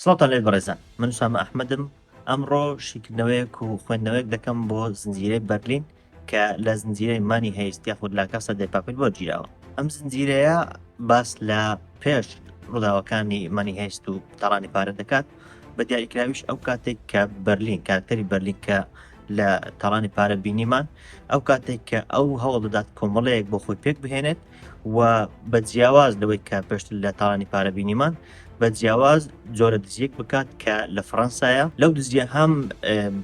سڵاوتان لێ بەڕێزان من سامە ئەحمدم ئەمڕۆ شیکردنەوەیەک و خوێندنەوەیەک دەکەم بۆ زنجیرەی بەرلین کە لە زنجیرەی مانی هەیست یاخود لا کەسە دەپاپل بۆ گیراوە ئەم زنجیرەیە باس لە پێش ڕووداوەکانی مانی هەیست و تاڕانی پارە دەکات بە دیاریکراویش ئەو کاتێک کە بەرلین کارکتەری بەرلین کە لە تاڵانی پارە بینیمان ئەو کاتێک کە ئەو هەوڵ دەدات کۆمەڵەیەک بۆ خۆی پێک بهێنێت و بە جیاواز لەوەی کە پێشتر لە تاڵانی پارە بینیمان بە جیاواز جۆرە دزیەک بکات کە لە فەەنسایە لەو دزیە هەم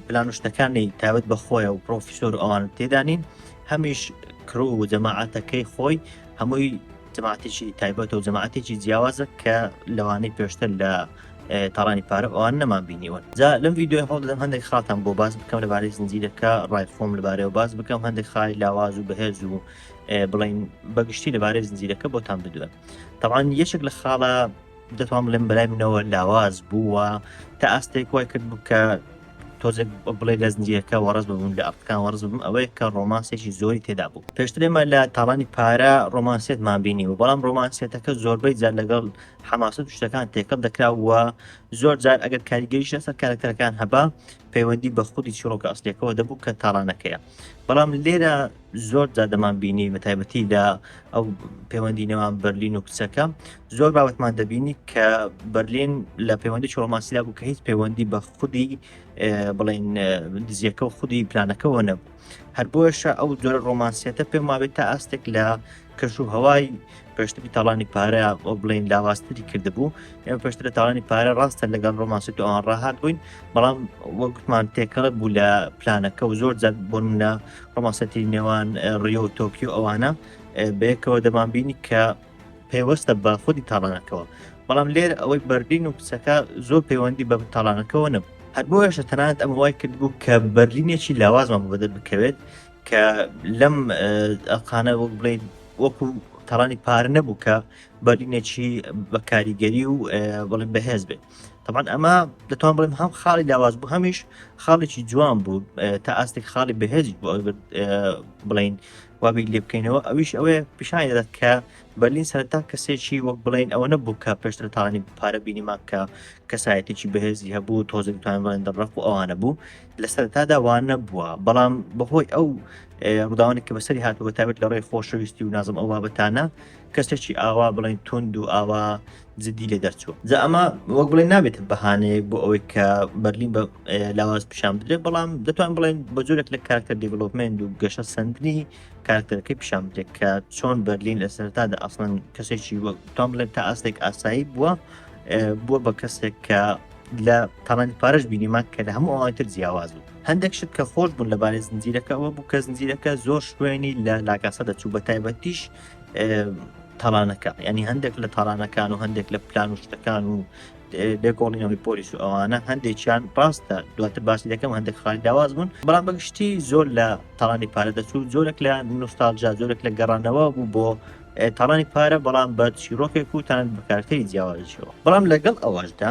پلانشتەکانی تاوت بەخۆیە و پرۆفیسۆر ئەوان تێدانین هەمیش کرو و جەماعاتەکەی خۆی هەمووی جماعتێکی تایبەت و جماعتێکی جیاوازە کە لەوانەی پێشتر لە تاڕانی پارە ئەوان نەمان بینیوەن جا لەم ویددیوی هەڵ دەدەم هەندێک خاتان بۆ باز بکەم لەبارەی زنجیرەکە ڕای خۆم لەبارەیەوە باز بکەم هەندێک خای لاواز و بەهێز و بڵین بەگشتی لەبارەی زنجیرەکە بۆتان بدوێن تاوان یەشێک لە خاڵە دەتوان بڵێم بەلای منەوە لاواز بووە تا ئاستێک وای کرد بوو کە تۆزێک بڵێ لە زنجیەکە وەڕز ببوون لە ئەفکان وەرز بم ئەوەیە کە ڕۆمانسێکی زۆری تێدا بوو پێشترێمە لە تاڵانی پارە ڕۆمانسێتمان بینی و بەڵام ڕۆمانسێتەکە زۆربەی جار لەگەڵ حەماسەت و شتەکان تێکەڵ دەکرا و زۆر جار ئەگەر کاریگەریش لەسەر کارەکتەرەکان هەبا پەیوەندی بە خودی چیڕۆکە ئەسلەکەەوە دەبوو کە تاڕانەکەیە بەڵام لێرە زۆر جادەمان بینی بە تایبەتی لە ئەو پەیوەندی نێوان بەرلین و کچەکە زۆر باوتمان دەبینی کە بەرلین لە پەیوەندی چۆڵماسیلا بوو کە هیچ پەیوەندی بە خودی بڵین دزیەکە و خودی پلانەکەەوە نەبوو هەر بۆیشە ئەو جۆرە ڕۆمانسیەتە پێم وابێت تا ئاستێک لە کەش و هەوای پێشتری تاڵانی پارە بۆ بڵین لاواستری کردبوو ئێمە پێشتر لە تاوانی پارە ڕاستە لەگەڵ ڕۆمانسی تو ئەوان ڕاهات بووین بەڵام وەکمان تێکەڵک بوو لە پلانەکە و زۆر جات بۆ منە ڕۆمانسەتی نێوان ڕیۆ و تۆکیو ئەوانە بەیەکەوە دەمان بینی کە پەیوەستە بە خودی تاڵانەکەەوە بەڵام لێر ئەوەی بەرلین و کچەکە زۆر پەیوەندی بە تاڵانەکەەوە نەبوو هەر بۆیشە تەنانەت ئەم وای کرد بوو کە بەرلینێکی لاوازمان بەدە بکەوێت کە لەم ئەقانە وەک بڵین وەکو تاڵانی پار نەبوو کە بەرلینێکی بە کاریگەری و بڵێ بەهێز بێت تەمان ئەمە دەتوان بڵێم هەم خاڵی لاواز بوو هەمیش خاڵێکی جوان بوو تا ئاستێک خاڵی بەهێزی بۆ بڵین وا بیر لێ بکەینەوە ئەویش ئەوەیە پیشانی دەدات کە بەرلین سەرتا کەسێکی وەک بڵێن ئەوە نەبوو کە پێشتر تاانی پارە بینیمان کە کەسایەتێکی بەهێزی هەبوو تۆزێک توانوان دەڕق و ئەوانە بوو لە سەرتادا وانە بووە بەڵام بەهۆی ئەو ڕداوانێک کە بەسەری هاتووە تابێت لە ڕێی خۆشەویستی و نازم ئەو بابەتانە کەسێکی ئاوا بڵێن تونند و ئاوا جدی لێ دەرچووە جا ئەمە وەک بڵێن نابێتە بەهانەیەک بۆ ئەوەی کە بەرلین بە لاواز پیشان بدرێت بەڵام دەتوان بڵێن بە جۆرێک لە کارکتەر دیڤلوپمنت و گەشە سندنی کارکتەرەکەی پیشان بدرێت کە چۆن بەرلین لە سەرتادا ئەسڵەن کەسێکی وەک تام بڵێن تا ئاستێک ئاسایی بووە بووە بە کەسێک کە لە تاڵانی پارش بینیمان کە لە هەموو ئەوانتر جیاواز بوو هەندێک شت کە خۆش بوون لەبارەی زنجیرەکەەوە بوو کە زنجیرەکە زۆر شوێنی لە لاکاسە دەچوو بە تایبەتیش تاڵانەکە ینی هەندێک لە تاڵانەکان و هەندێک لە پلان و شتەکان و لێکۆڵینەوەی پۆلیس و ئەوانە هەندێکیان ڕاستە دواتر باسی دەکەم هەندێک خاڵی داواز بوون بەڵام بەگشتی زۆر لە تاڵانی پارە دەچوو زۆرێک لە نوستالجا زۆرێک لە گەڕانەوە بوو بۆ تاڵانی پارە بەڵام بە چیرۆکێک وتان بەکارتەی جیاوازشەوە بەڵام لەگەڵ ئەوەشدا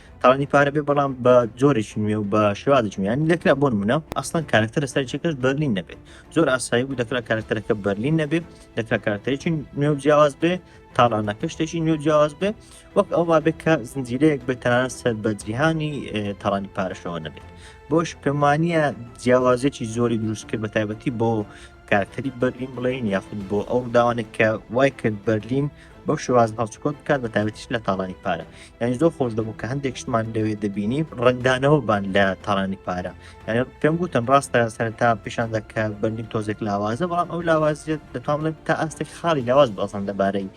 تاوانی پارە بێ بەڵام بە جۆرێکی نوێ و بە شێوازێکی میانی دەکرا بۆن منە ئەسڵەن کارکتەر سەرچەکەش بەرلین نەبێت زۆر ئاسایی بوو دەکرا کارکتەرەکە بەرلین نەبێت دەکرا کارکتەرێکی نوێ و جیاواز بێ تاڵانەکە شتێکی نوێ جیاواز بێ وەک ئەوما بێت کە زنجیرەیەک بێتەنان سەر بە جیهانی تاڵانی پارەشەوە نەبێت بۆش پێمانە جیاوازێکی زۆری دروست کرد بە تایبەتی بۆ کارکتەری بەرلین بڵێین یاخود بۆ ئەو داوانێک کە وای کرد بەرلین بەو شێواز هەڵچکۆت بکات بە تابەتیش لە تاڵانی پارە یعنی زۆر خۆش دەبوو کە هەندێک شتمان لەوێ دەبینی ڕنگدانەوە بان لە تاڵانی پارە یعنی پێم گوتن ڕاستە سەرتا پیشان دەکە بەرلین تۆزێک لاوازە بەڵام ئەو لاوازیت دەتوان تا ئاستێک خاڵی لاواز بەسان دەبارەی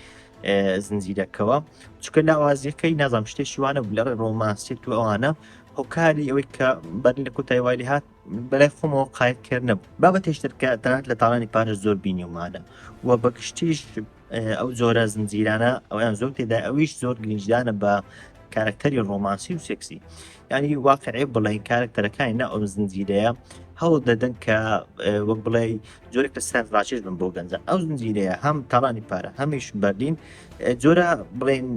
زنجیرەکەەوە چکە لاوازیەکەی نازام شتێکی وانە بلەڕێ ڕۆمانسیت و ئەوانە هۆکاری ئەوەی کە بەرلین لە کۆتای وای هات بەلای خۆمەوە قایت کرد نەبوو بابەتێش ترکە تەنات لە تاڵانی پارێز زۆر بینیومانە و بە گشتیش ئەو زۆرە زنجیرانە ئەویان زۆر تێدا ئەویش زۆر گرنجدانە بە کارکتەری ڕۆمانسی و سێکسی ینی واقعێ بڵێن کارکتەرەکانی نا ئەو زنجیرەیە هەوڵ دەدەن کە وەک بڵێ زۆرێک لە سەر ڕاچێش بن بۆ گەنجە ئەو زنجیرەیە هەم تاڵانی پارە هەمیش بەردین جۆرە بڵێن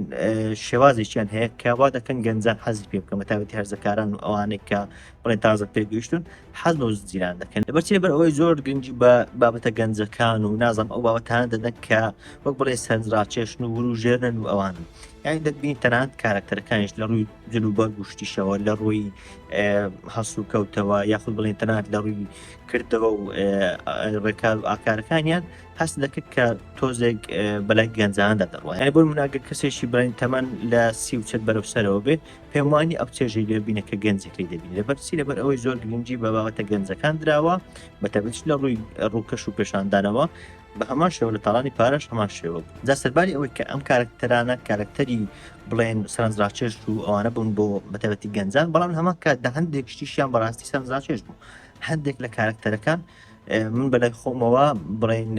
شێوازێکیان هەیە کە وا دەکەن گەنجان حەزی پێ بکەمە تاوەتی هەرزەکاران و ئەوانێک کە بەڵێ تازە پێگەیشتون حەز بە زنجیران دەکەن لەبەرچی لەبەر ئەوەی زۆر گرنگی بە بابەتە گەنجەکان و نازم ئەو بابەتان دەدەن کە وەک بڵێ سەرنجڕاکێشن و ورو ژێرن و ئەوان یانی دەبین تەنانەت کارکتەرەکانیش لە ڕووی جل و بەر گوشتیشەوە لە ڕووی هەس و کەوتەوە یاخود بڵێن تەنات لە ڕووی کردەوە و ڕێکار و ئاکارەکانیان هەست دەکرد کە تۆزێک بەلای گەنجاندا دەڕوایە بۆ مناگە کەسێکی بڵێن تەمەەن لە سی و چەند بەرەو سەرەوە بێ پێم وانی ئەو چێژەی لێبینە کە گەنجەکەی دەبین لەبەر چی لەبەر ئەوەی زۆر گرنگجی بە باوەتە گەنجەکان دراوە بە تەبچ لە ڕووی ڕووکەش و پێشاندانەوە بە هەمان شێوە لە تاڵانی پارەش هەمان شێوە جا سەرباری ئەوەی کە ئەم کارکتەرانە کارکتەری بڵێن سەرنجڕاکێش و ئەوانە بوون بۆ بەتەبەتی گەنجان بەڵام هەمان کاتدا هەندێک شتیشیان بەڕاستی سەرنجڕاکێش بوو هەندێک لە کارکتەرەکان من بەلای خۆمەوە بڵین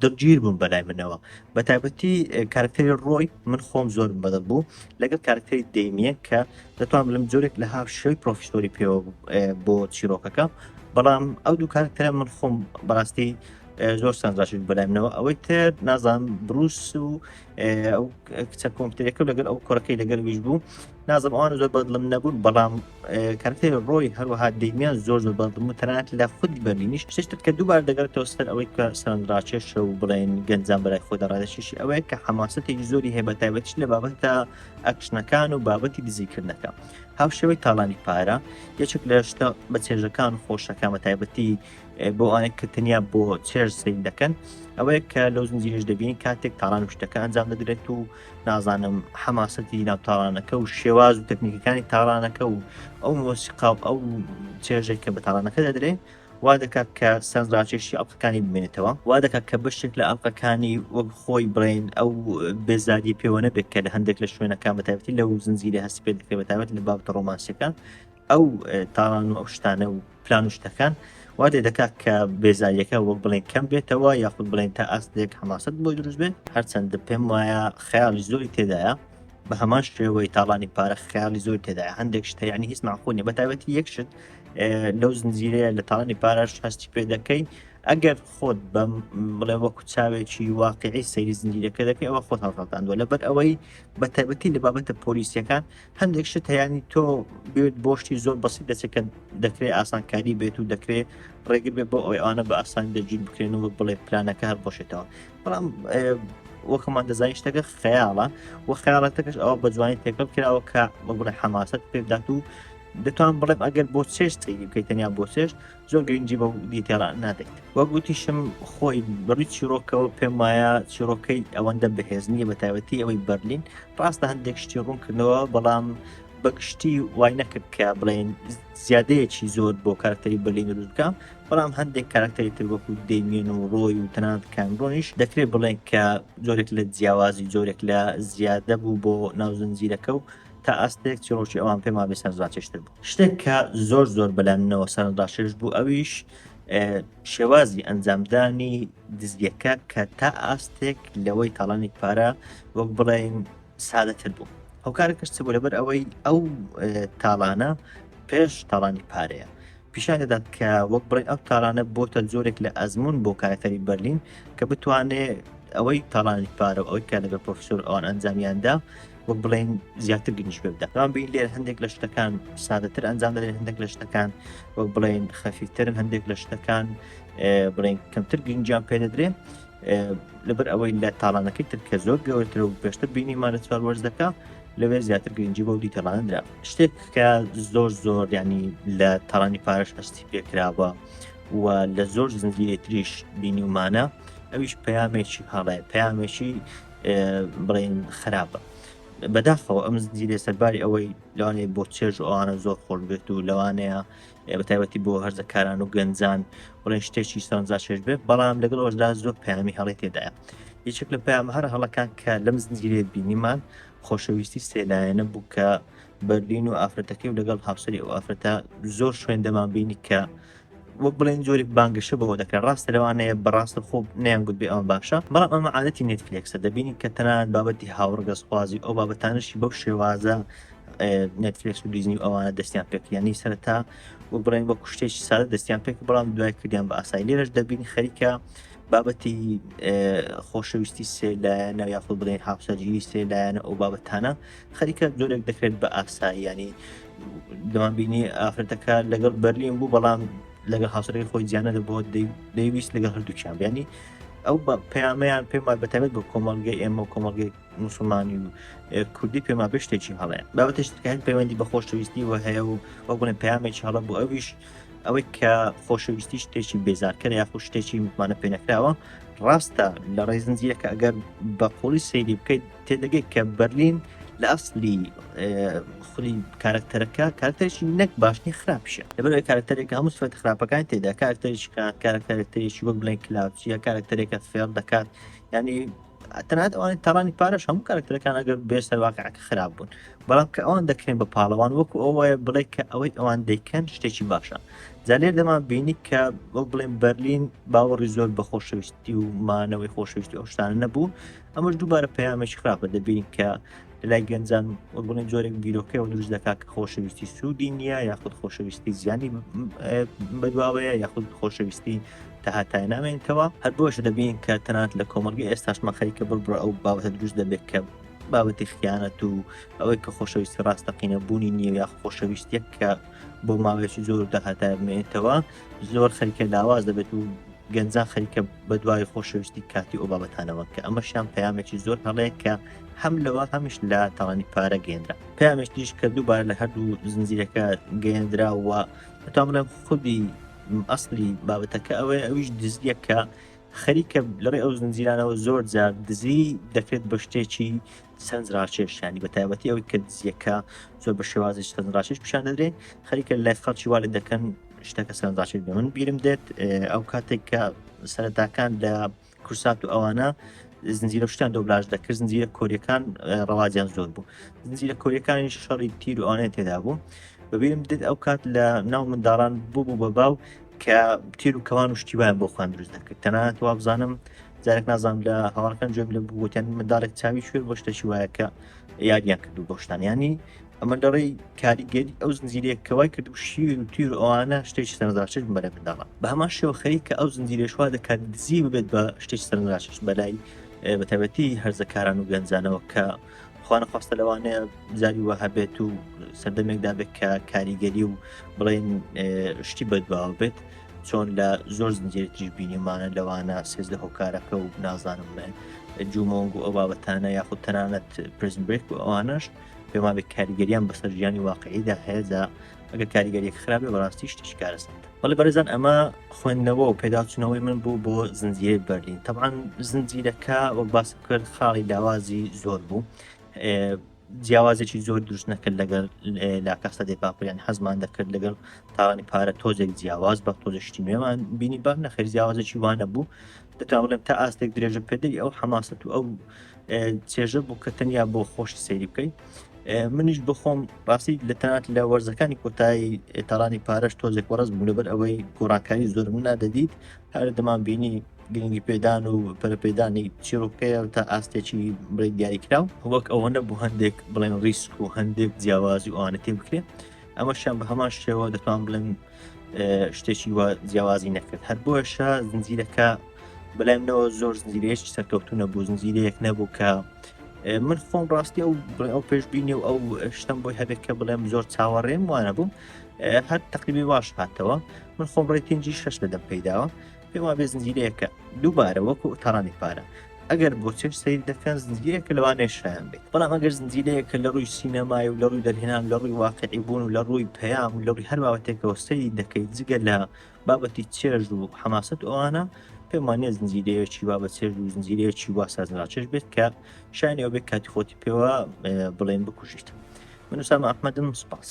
دڵگیر بوون بەلای منەوە بە تایبەتی کارکتەری ڕۆی من خۆم زۆر بەدە بوو لەگەڵ کارکتەری دەیمیە کە دەتوان لەم جۆرێک لە هاف شوی پرۆفیسۆری پێوە بۆ چیرۆکەکە بەڵام ئەو دوو کارکتەرە من خۆم بەڕاستی زۆر سەنجاشت بەلای منەوە ئەوەی تر نازان بروس و ئەو کچە کۆمپتەرەکە لەگەر ئەو کوڕەکەی لەگەر ویش بوو نازم ئەوان زۆر بەدڵم نەبوون بەڵام کارتێ ڕۆی هەروەها دەیمیان زۆر زۆر بەدڵم و تەنات لە خود بەرینیش پێشتر کە دووبار دەگەرتەوە سەر ئەوەی کە سەرنجڕاکێشە و بڵێن گەنجان بەرای خۆدا ڕادەشیشی ئەوەیە کە حەماسەتێکی زۆری هەیە بە تایبەتش لە بابەتە ئەکشنەکان و بابەتی دزیکردنەکە هاوشێوەی تاڵانی پارە یەکێک لە شتە بە چێژەکان خۆشەکە بە تایبەتی بۆ ئەوانێک کە تەنیا بۆ چێژ سین دەکەن ئەوەیە کە لەو زنجیرش دەبین کاتێک تاڕان شتەکە ئەنجام دەدرێت و نازانم حەماسەتی ناوتاڕانەکە و شێواز و تەکنیکەکانی تاڕانەکە و ئەو مۆسیقا و ئەو چێژێک کە بە تاڕانەکە دەدرێت وا دەکات کە سەنجڕاکێشی ئەڵلقەکانی بمێنێتەوە وا دەکات کە بەشێک لە ئەڵلقەکانی وەک خۆی بڵێن ئەو بێزاری پێوە نەبێت کە لە هەندێک لە شوێنەکان بەتابەتی لەو زنجیرە هەستی پێ دەکرێت بەتابەت لە بابتە ڕۆمانسەکان ئەو تاڵان و ئەو شتانە و پلان و شتەکان وا لێ دەکات کە بێزاییەکە وەک بڵێن کەم بێتەوە یاخود بڵێن تا ئاستێک حماست بۆی دروست بێت هەرچەند پێم وایە خەیاڵی زۆری تێدایە بە هەمان شێوەی تاڵانی پارە خیاڵی زۆر تێدا هەندێک شتە ینی هیچ ماخۆنی بە تایبەتی یەکشت لەو زنجیرەیە لە تاڵانی پارەش هەستی پێ دەکەی ئەگەر خۆت بەم بڵێ وەکو چاوێکی واقعی سەیری زنجیرەکە دەکەی ئەوە خۆت هەڵخەڵتاندوە لەبەر ئەوەی بە تایبەتی لە بابەتە پۆلیسیەکان هەندێک شت هەیەنی تۆ بێت بۆشتی زۆر بەسی دەچێکە دەکرێت ئاسانکاری بێت و دەکرێت ڕێگر بێت بۆ ئەوی ئەوانە بە ئاسان دەجییر بکرێن و بڵێ پلانەکە هەر بۆشێتەوە بەڵام وەکەمان دەزانانی شتەکە خەیاڵە و خیاڵەتەکەش ئەوە بە جوانی تێکەڵ کراوە کە بڵێ حەماست پێدات و دەتوان بڵێم ئەگەر بۆ چێشت بکەیت تەنیا بۆ چێشت زۆر گرنگی بە دیتێڵ نادەیت وە گوتیشم خۆی بڕی چیرۆکەوە پێم وایە چیرۆکەی ئەوەندە بەهێز نییە بە تایبەتی ئەوەی بەرلین ڕاستە هەندێک شتی ڕوونکردنەوە بەڵام بەگشتی وای نەکرد کە بڵێن زیادەیەکی زۆر بۆ کارکتەری بەلین دروست بکەم بەڵام هەندێک کارکتەری تر وەکو دەیمێن و ڕۆی و تەنانەت کامرۆنیش دەکرێت بڵێن کە زۆرێک لە جیاوازی زۆرێک لە زیادە بوو بۆ ناوزنجیرەکە و تا ئاستێک چیڕۆکی ئەوان پێمان بێ سەرزاتێشتر بوو شتێک کە زۆر زۆر بەلامنەوە سەرڕاشێش بوو ئەویش شێوازی ئەنجامدانی دزگەکە کە تا ئاستێک لەوەی تاڵانی پارە وەک بڵێن سادەتر بوو ئەو کارە کەشت بوو لەبەر ئەوەی ئەو تاڵانە پێش تاڵانی پارەیە پیشان دەدات کە وەک بڵێ ئەو تاڵانە بۆتە زۆرێک لە ئەزمون بۆ کارەکەری بەرلین کە بتوانێت ئەوەی تاڵانی پارە ئەوەی کە لەگە پرۆفسۆر ئەوان ئەنجامیاندا وەک بڵێن زیاتر گرنج پێ بدات بەڵام بین لێر هەندێک لە شتەکان سادەتر ئەنجام دەێن هەندێک لە شتەکان وەک بڵێن خەفیترن هەندێک لە شتەکان بڵێن کەمتر گرنجیان پێ دەدرێن لەبەر ئەوەی لە تاڵانەکەی تر کە زۆر گەورتر و پێشتر بینیمان لە چوار وەرزەکە لەوێ زیاتر گرنگجی بۆ دیتەڵاندرا شتێک کە زۆر زۆر ینی لە تاڵانی پارش هەستی پێکراوە و لە زۆر زنجیرێتریش بینیمانە ئەویش پەیامێکی هەڵێ پەیامێکی بڵێن خراپە بەداخەوە ئەم زنجیرە سەرباری ئەوەی لەوانێ بۆ چێژ ئەوانە زۆر خۆش بێت و لەوانەیە بەتایبەتی بۆ هەرزەکاران و گەنجان بڵێن شتێکی سەرنجا چێژ بێت بەڵام لەگەڵ ئەوشدا زۆر پامی هەڵی تێدایە یەکێک لە پام هەر هەڵەکان کە لەم زنجیرێ بینیمان خۆشەویستی سێلایەنە بوو کە بەرلین و ئافرەتەکەی و لەگەڵ هاوسری و ئافرەتە زۆر شوێندەمان بینی کە وەک بڵێن جۆرێک بانگەشە بەوە دەکەن ڕاستە لەوانەیە بەڕاستە خۆ نیان گوت بێ ئەوان باشە بەڵام ئەمە عادەتی نێتفلێکسە دەبینین کە تەنان بابەتی هاوڕگەزخوازی ئەو بابەتانشی بەو شێوازە نێتفلێکس و دیزنی ئەوانە دەستیان پێکیانی سەرتا و بڵێن وەک شتێکی سادە دەستیان پێک بەڵام دوای کردیان بە ئاسای لێرەش دەبین خەریکە بابەتی خۆشەویستی سێلایەنە یاخود بڵێن هاوسەرگیری سێلایەنە ئەو بابەتانە خەریکە جۆرێک دەکرێت بە ئاساییانی دەوام بینی ئافرەتەکە لەگەڵ بەرلین بوو بەڵام لەگە هاوسەرەکە خۆی زیانە دەبووە دەیویست لەگە هەردووچیان بیانی ئەو بە پەیامیان پێمان بەتەمێت بۆ کۆمەلگەی ئێمە کۆمەلگەی مسلمانی و کوردی پێما بێ شتێکی هەڵێ بابەتش تکەن پەیوەندی بە خۆشەویستی و هەیە و وە بڵێن پامێکی هەڵە بۆ ئەویش ئەوەی کە خۆشەویستی شتێکی بێزارکەر یاخۆ شتێکی متمانە پێنەکراوە ڕاستە لە ڕێزنجیەکە ئەگەر بە قوڵی سەیری بکەیت تێدەگەیت کە بەرلین لە ئەسلی خولی کارکتەرەکە کارکتەرشی نەک باشنی خراپشە لەبەر کارکتەرێک هەموو سفەت خراپەکان تێدا کارکتەرێکی کات کارکتەرێکتەرێکی وەک بڵێن کلااوچیە کارکتەرێکە فێڵ دەکات ینی تەنات ئەوانی تاڕانی پارش هەموو کارکتەرەکان ئەگەر بێ سەرواقعەکە خراپ بوون بەڵام کە ئەوان دەکرێن بە پاڵەوان وەکو ئەوەیە بڵێ کە ئەوەی ئەوان دەیکەن شتێکی باشە زانێر دەمان بینی کە وەک بڵێن بەرلین باوەڕی زۆر بە خۆشەویستی و مانەوەی خۆشەویستی ئەوشتانە نەبوو ئەمەش دووبارە پەیامێکی خراپە دەبین کە لای گەنجان بڵێ جۆرێک بیرۆکەەوە دروست دەکات کە خۆشەویستی سوودی نییە یاخود خۆشەویستی زیانی بەدواوەیە یاخود خۆشەویستی تاهاتای نامێنتەوە هەر بۆش دەبین کە تەنات لە کۆمەلگە ئێستاش مەخەری کە بڕبڕە ئەو باوتە دروست دەبێت کە بابەتی خیانەت و ئەوەی کە خۆشەویستی ڕاستەقینە بوونی نییە یا خۆشەویستێک کە بۆ ماوەیەکی زۆر داهاتای بمێنێتەوە زۆر خەریکە لاواز دەبێت و گەنجان خەریکە بە دوای خۆشەویستی کاتی ئەو بابەتانەوە کە ئەمەشیان پەیامێکی زۆر هەڵەیە کە هەم لەوە هەمیش لە تاوانی پارە گەێنرا پامێش دیش کە دووبار لە هەردوو زنجیرەکە گەێنرا و تام لە خودی ئەسلی بابەتەکە ئەوەیە ئەویش دزیەکە خەریکە لەڕێ ئەو زنجیرانەوە زۆر جار دزی دەکرێت بە شتێکی سەرنجڕاکێش یانی بە تایبەتی ئەوەی کە دزیەکە زۆر بە شێوازی سەرنجڕاکێش پیشان دەدرێ خەریکە لای خەڵکی والێ دەکەن شتەکە سەرنجڕاکێش بە من بیرم دێت ئەو کاتێک کە سەرەتاکان لە کورسات و ئەوانە زنجیرە شتان دۆبلاژ دەکرد زنجیرە کۆریەکان ڕەواجیان زۆر بوو زنجیرە کۆریەکانی شەڕی تیر و ئەوانە تێدا بوو بەبیرم دێت ئەو کات لە ناو منداڵان بوو بوو بە باو کە تیر و کەوان و شتی وایان بۆ خوان دروست دەکرد تەنانەت وا بزانم جارێک نازان لە هەواڵەکان جۆم لە بووتێن منداڵێک چاوی شوێ بۆ شتەشی وایە کە یاریان کردو بۆشتان ینی ئەمە لەڕێی کاریگەری ئەو زنجیرەیە کەوای کرد و شیر و تیر ئەوانە شتێکی سەرزاشت بەرە منداڵە بە هەمان شێوە خەری کە ئەو زنجیرێشوا دەکات دزی ببێت بە شتێک سەرزاشت بەلای بەتەبەتی هەرزەکاران و گەنجانەوە کە خوانەخواستە لەوانەیە زاری وە هەبێت و سەردەمێکدا بێت کە کاریگەری و بڵێن شتی بەدواوە بێت چۆن لە زۆر زنجێتیش بینیمانە لەوانە سێز لە هۆکارەکە و نازانم بڵێن جومۆنگ و ئەو بابەتانە یاخود تەنانەت پرزمبێک و ئەوانەش پێمابێت کاریگەریان بەسەر ژیانی واقعیدا هەیەدا ئەگە کاریگەری خراپێ بەڕاستی شتیش کارەسەندە بەڵێ بەڕێزان ئەمە خوێندنەوە و پێداچوونەوەی من بوو بۆ زنجیرەی بەرلین تەبان زنجیرەکە وەک باس کرد خاڵی داوازی زۆر بوو جیاوازێکی زۆر دروست نەکرد لەگەر لا کەسە دێ پاپیان حەزمان دەکرد لەگەڵ تاوانی پارە تۆزێک جیاواز بە تۆزشتی نوێمان بینی بەر نەخێر جیاوازێکی وانە بوو دەتاڵێن تا ئاستێک درێژە پێدەی ئەو حەماسەت و ئەو چێژە بوو کە تەنیا بۆ خۆشی سەیری بکەیت منیش بخۆم ڕاستی لە تەنات لە وەرزەکانی کۆتایی تەرانی پارەش تۆزێک وەڕز بوو لەبەر ئەوەی گۆڕانکاری زۆر من نادەدیت هەر دەمان بینی گرنگی پێدان و پەرپێدانی چیرۆکەیە تا ئاستێکی بڵێ دیاریکراو وەک ئەوە نەبوو هەندێک بڵێن ڕیسک و هەندێک جیاوازی ئەوانە تێ بکرێت ئەمەشیان بە هەمان شێوە دەتوان بڵێن شتێکی وە جیاوازی نەکرد هەر بۆشە زنجیرەکە بەلایمنەوە زۆر زنجیرێش سەرکەوتو نەبوو زنجیرەیەک نەبوو کە من خۆم ڕاستی ئەو ئەو پێشببینی و ئەو شتم بۆی هەبێت کە بڵێم زۆر چاوەڕێم وانە بووم هەر تقریبی باش هاتەوە من خۆم ڕێ پێنجی شش دەدەم پیداوە پێم وابێ زنجیرەیەکە دووبارە وەکو تەڕانی پارە ئەگەر بۆ چێش سەیری دەکەن زنجیرەیەکە لەوانێ شایان بێت بەڵام ئەگەر زنجیرەیەکە لە ڕووی سینەمای و لە ڕووی دەرهێنان لە ڕووی واقعی بوون و لە ڕووی پەیام و لە ڕووی هەر باوەتێکەوە سەیری دەکەیت جگە لە بابەتی چێژ و حەماست ئەوانە پێمانە زنجیرەیەکی وا بە چێژ و زنجیرەیەکی وا سازراچێش بێت کە شانەوە بێت کاتی خۆتی پێوە بڵێن بکوژیت من وسام ئەحمەدم سپاس.